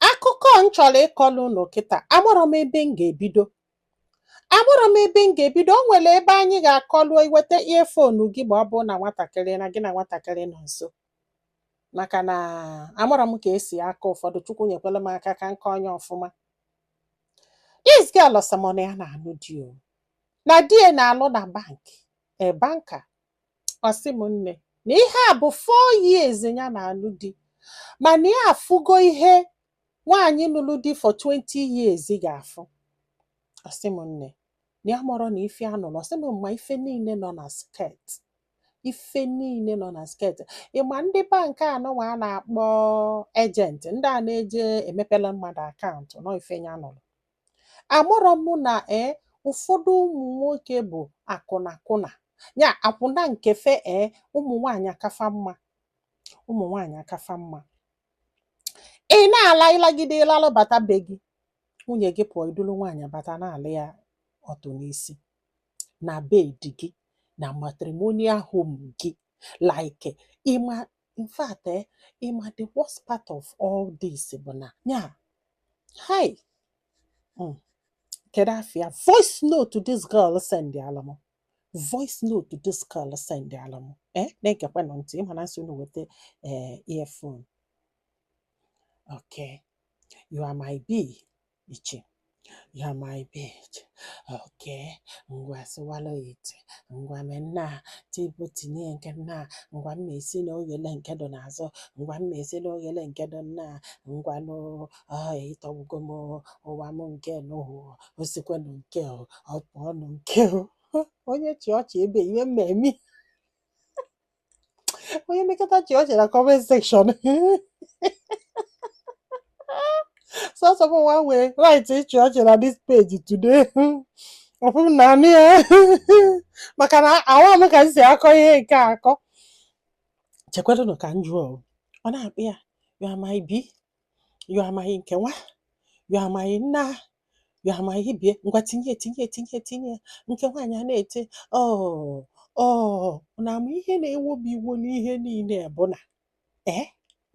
akụkọ m chọrọ ịkọlụ unu kịta amarọ m ebe m ga-ebido amarọ m ebe m ga-ebido o nwere ebe anyị ga-akọlụ iweta earphone gị ma ọ bụ na nwatakịrị na gị na nwatakịrị nọ nso maka na amarọ m ka esi akọ ụfọdụ chukwu nyekwelụ m aka ka m kọọ nya ọfụma this girl ọ sị m na ya na-anụ di o na di ya na-alụ na bank a banker ọ sị m nne na ihe a bụ four years ya na-anụ di mana ya afụgo ihe nwaanyị nụlụ di for 20 years ga-afụ ọ sị m nne na ya amụrọ na ife ya nụrụ ọ sị m ma ife niile nọ na skirt ife niile nọ na skirt ị ma ndị bank anụnwa a na-akpọ agent ndị a na-eje emepela mmadụ account nọ ife ya nụrụ amụrọ m na ee ụfọdụ ụmụ nwoke bụ akwụnakwụna ya akwụna nke fa ee ụmụ nwaanyị aka fa mma ụmụ nwaanyị aka fa mma ị na-ala ị lagide lalụ bata be gị nwunye gị pụọ i dulu nwaanyị bata na-ala ya ọtụ n'isi na bed gị na matrimonial home gị like ị ma in fact eh, ị ma the worst part of all this bụ na ya hi mm, kedu ife a voice note this girl send ala m voice note this girl send ala m eh na-egekwenụ ntị ị ma na m sị unu weta eh, earphone okay you are my bee iche you are my bitch okay ngwa sịwala ite ngwa me nna tipu tinye nke nna ngwa mma esi na oghele nke dị n'azụ ngwa mma esi na oghele nke dị nna ngwa nụ ị tọgbugo m ụwa m nke nụhụ osikwenụ nke o ọ pụọnụ nke o onye chịa ọchị ebe iwe mmemme onye mekata chịa ọchị na comment section sọsọ m nwa nwere right ịchị ọchị na this page today ọ bụ m na-anụ ya maka na ama m ka m si akọ ihe nke a akọ chekwadụnụ ka m jụọ o. ọ na-akpọ ya you are my bee you are my nke nwa you are my nna you are my ibie ngwa tinye tinye tinye tinye nke nwaanyị a na-eti ọ ọ na ama ihe na-ewo m iwo n'ihe niile bụ na ee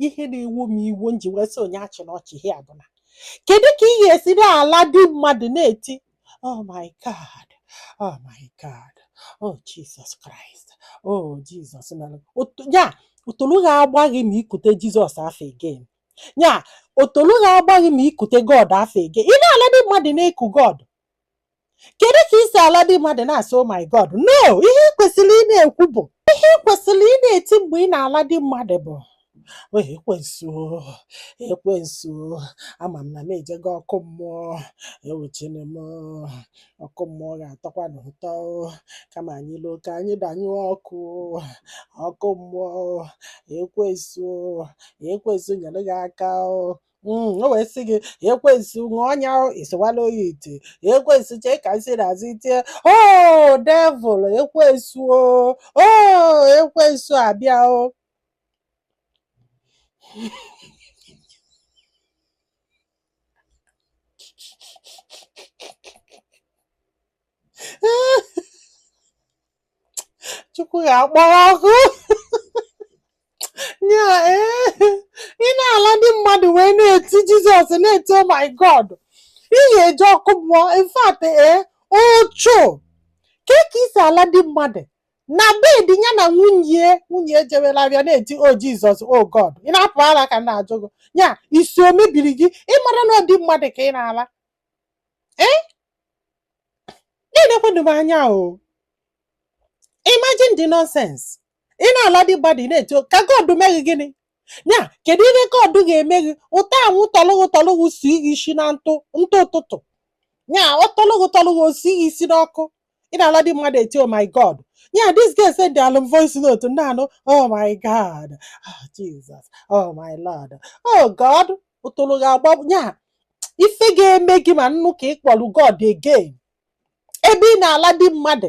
ihe na-ewo m iwo m ji wee sị onye achịna ọchị ihe a bụ na kedu ka ị ga-esi na-ala di mmadụ na-eti Oh my God. Oh my God. Oh Jesus Christ. Oh Jesus. Ya, otolo ga-agba gị ma i kute Jizọs afa again. Ya, otolo ga-agba gị ma i kute God afa again. Ị na-ala di mmadụ na-eku God. Kedu ka i si ala di mmadụ na-asị oh my God? No, ihe ị kwesịrị ị na-ekwu bụ ihe ị kwesịrị ị na-eti mgbe ị na-ala di mmadụ bụ o ekwensu ekwensu ama m na m ejego ọkụ mmụọ ewuchene m ọkụ mmụọ ga-atọkwanụ ụtọ kama anyị luo ka anyị gbanyụọ ọkụ ọkụ mmụọ ekwensu ekwensu nyere gị aka o Mm, o wee sị gị ekwensu ṅụọ ọnya o, isowala oyi ite ekwensu chee ka nsị na-azụ itie o devil ekwensu o o ekwensu abịa o chukwu ga-akpọ ọkụ nye ee ị na-ala di mmadụ wee na-eti jizọs na-eti oh my god ị ga-eje ọkụ mmụọ in fact ee ocho ka ka i si ala di mmadụ na bed ya na nwunye nwunye ejewela ahịa na-eti o jizọs o god ị na-apụ ala ka m na-ajụ gị ya isi o mebiri gị ị mara na ọ di mmadụ ka ị na-ala ee na-elekwanụ m anya o imagine the nonsense ị na-ala di mmadụ ị na-eti o- ka god mee gị gịnị ya kedu ihe god ga-eme gị ụtọ anwụ tọlụ gị tọlụ gị si gị isi na ntụ ntụ ụtụtụ ya ọ tọlụ gị tọlụ gị o si gị isi n'ọkụ ị na-ala di mmadụ eti oh my god ya this girl sendịalụ m voice note m na-anụ oh my god oh jesus oh my lord oh god ọtọrọ ga-agba ya ife ga-eme gị ma m nụ ka ị kpọrọ god again ebe ị na-ala di mmadụ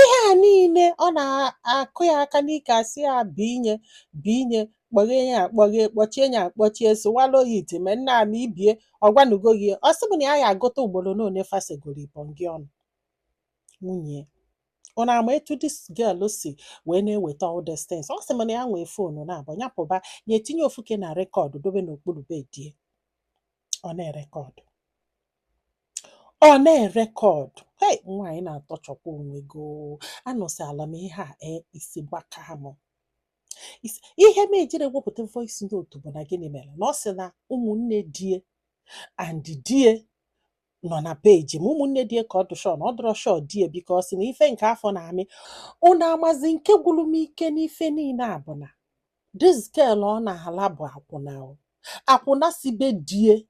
ihe a niile ọ na-akụ ya aka n'ike asị ya binye binye kpọghee ya akpọghee kpọchie ya akpọchie sụwala oyi iti mee nna m ibie ọ gwanugo gị ọ sị m na ya ya agụta ugboro na one fa segoro ibọngị ọnụ nwunye ya. unu ama etu dis girl si wee na-eweta all these things ọ sị m na ya nwee fonu naabọ ya pụba ya etinye ofu ke na rekọdụ dobe n'okpuru bed e ọ na-erekọdụ ọ na-erekọdụ hei nwaanyị na-atọchọkwa onwe gị oo. anụsịala m ihe a ee isi gbaka m Isi- ihe m ejiri wepụta voice note bụ na gịnị mere na ọ sị na ụmụnne di e and di e nọ na peji m ụmụnne di e ka ọ dụ sure na ọ dụrọ shọ di e because na ife nke a fa na-eme unu amazi nke gwụrụ m ike n'ife niile a bụ na This girl ọ na-ala bụ akwụna o. Akwụna si be di e.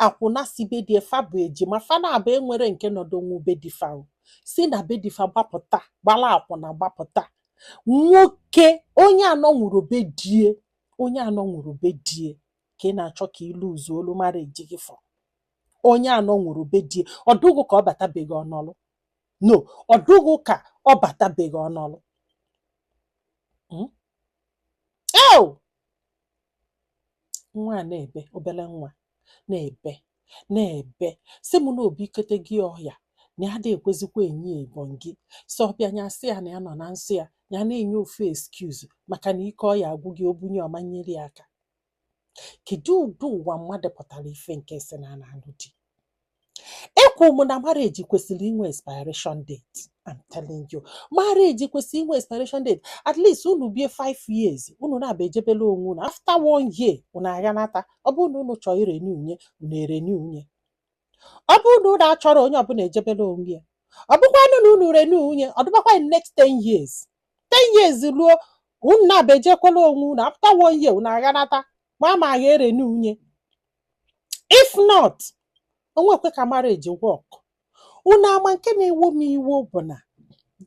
Akwụna si be di e fa bụ ejima fa naabọ enwerọ nke nọdụnwu be di fa o. Si na be di fa gbapụta gbala akwụna gbapụta. Nwoke onye anọnwurọ be di e onye anọnwurọ be di e ka ị na-achọ ka ị luzuolu marriage gị for. Onye anọnwurọ be di e ọ dụ gị ka ọ bata be gị ọ nọlụ. no ọ dụghị ka ọ batabeghị ọnọlụ Mm. Ew! nwa a na-ebe obere nwa na-ebe na-ebe sị mụ na obi ikete gị ọhịa na ya da ekwezikwa enyi ya ebon gị sị ọ bịa nya sị ya na ya nọ na nsọ ya ya na-enye ofu excuse maka na ike ọya agwụ gị obunye ọma nyere ya aka kedu ụdị ụwa mmadụ pụtara ife nke sị na a na-anụ di ekwu m na marriage kwesịrị inwe expiration date I'm telling you marriage kwesịrị inwe expiration date at least unu bie 5 years unu naba ejebela onwe unu after one year unu agha nata ọ bụrụ na unu chọọ irenew nye unu erenew nye ọ bụrụ na unu achọrọ onye ọbụla ejebela onwe ya ọ bụkwanụ na unu renew nye ọ dịbakwa in next 10 years ten years ruo unu naba ejekwala onwe unu after one year unu aghanata ma ama agha erenew nye if not o nwekwe ka marriage work unu ama nke na-ewo m iwo bụ na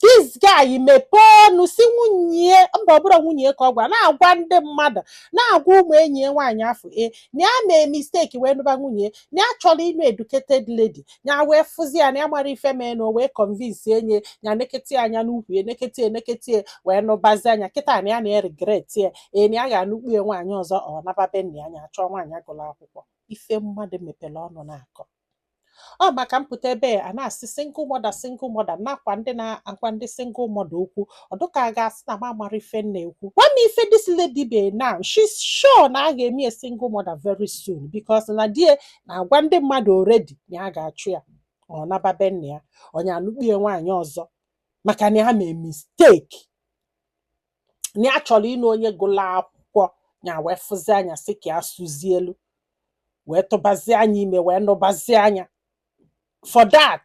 this guy mepee ọnụ sị nwunye mba ọ bụrọ nwunye ka ọ gwa na-agwa ndị mmadụ na-agwa ụmụ enyi ya nwaanyị afụ e na ya mee mistake wee nụba nwunye na ya chọrọ ịnụ educated lady ya wee fụzi ya na ya mara ife mee na o wee convince nye ya nekete anya n'ukwu ya nekete enekete wee nụbazia nya kịta na ya na-eregret ya ee na ya ga-anụkpu ya nwaanyị ọzọ ọ naba be nna ya nya chọọ nwaanyị gụrụ akwụkwọ ife mmadụ mepere ọnụ na-akọ ọ maka m pụta ebe a na-asị single mother single mother nakwa ndị na-agwa ndị single mother okwu ọ dụ ka a ga-asị na m amarọ ife m na-ekwu gwa m ife this lady be now she's sure na a ga-eme ya single mother very soon because na di ya na-agwa ndị mmadụ already na ya ga-achụ ya ma ọ naba be nna ya nya anụkpie nwaanyị ọzọ maka na ya mee mistake na ya chọrọ ịnụ onye gụla akwụkwọ ya wee fụzia nya sị ka ya sụzie elu wee tụbazia nya ime wee nụbazia nya for that